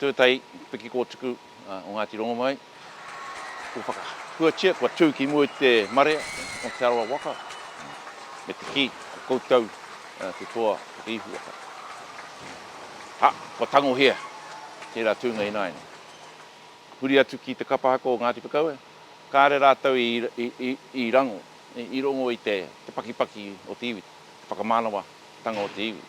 Tūtahi piki kōtuku o Ngāti Rongomai. Kua whakahuatia, kua tū ki mua i te marea o Te Arawa waka, me te kī, ko koutou te toa o te ihu waka. Hā, kua tangohia tērā tūnga ināianei. Huri atu ki te kapa ako o Ngāti Whakaue, kāre rātou i rango, i rongo i te pakipaki o te iwi, te whakamānawa tanga o te iwi.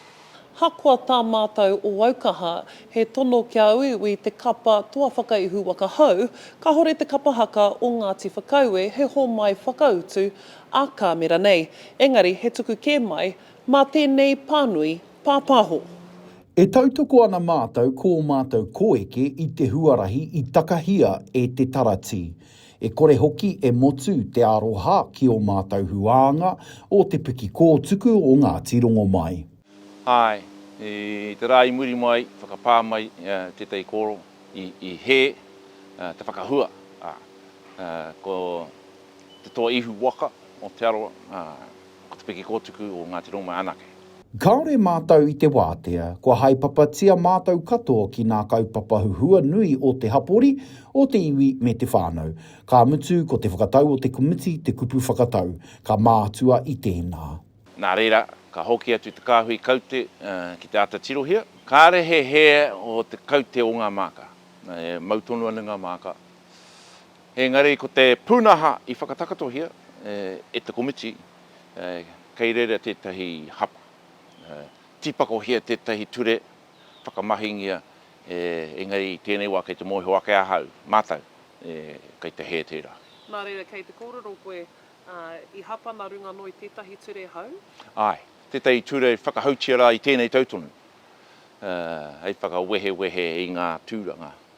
Hakoa tā mātou o Aukaha, he tono kia uiui te kapa Toa Whakaihu Waka Hou, kahore te kapa haka o Ngāti Whakaue he homai whakautu a Kāmera nei, engari he tuku kē mai mā tēnei pānui pāpāho. E tautoko ana mātou kō mātou koeke i te huarahi i takahia e te taratī. E kore hoki e motu te aroha ki o mātou huānga o Te Piki Kōtuku o Ngāti Rongomai. Āe, i te rā i muri mai, whakapā mai tētahi kōrero i hē te whakahua, ā, ko te toa ihu waka o Te Arawa, ā. Ko te piki kōtuku o Ngāti Rōmai anake. Kāore mātou i te wātea, kua haepapatia mātou katoa ki nā kaupapa huhua nui o te hapori, o te iwi me te whānau. Ka mutu ko te whakatau o te komiti te kupu whakatau, ka mātua i tēnā. Nā reira, ka hoki atu te kāhui kaute ki te āta tirohia. Kāre he hē o te kaute o ngā māka. Mau tonu ana ngā māka. Engari ko te pūnaha i whakatakatohia e te komiti, kei reira tētahi hapa. Tīpakohia tētahi ture, whakamahingia, engari i tēnei wā kei te mōhio ake ahau, mātou, kei te hē tērā. Nā reira kei te kōrero koe, i hapa nā runga noa i tētahi ture hou? Āe, tētahi ture whakahoutia rā i tēnei tau tonu, hei whakawehewehe i ngā tūranga.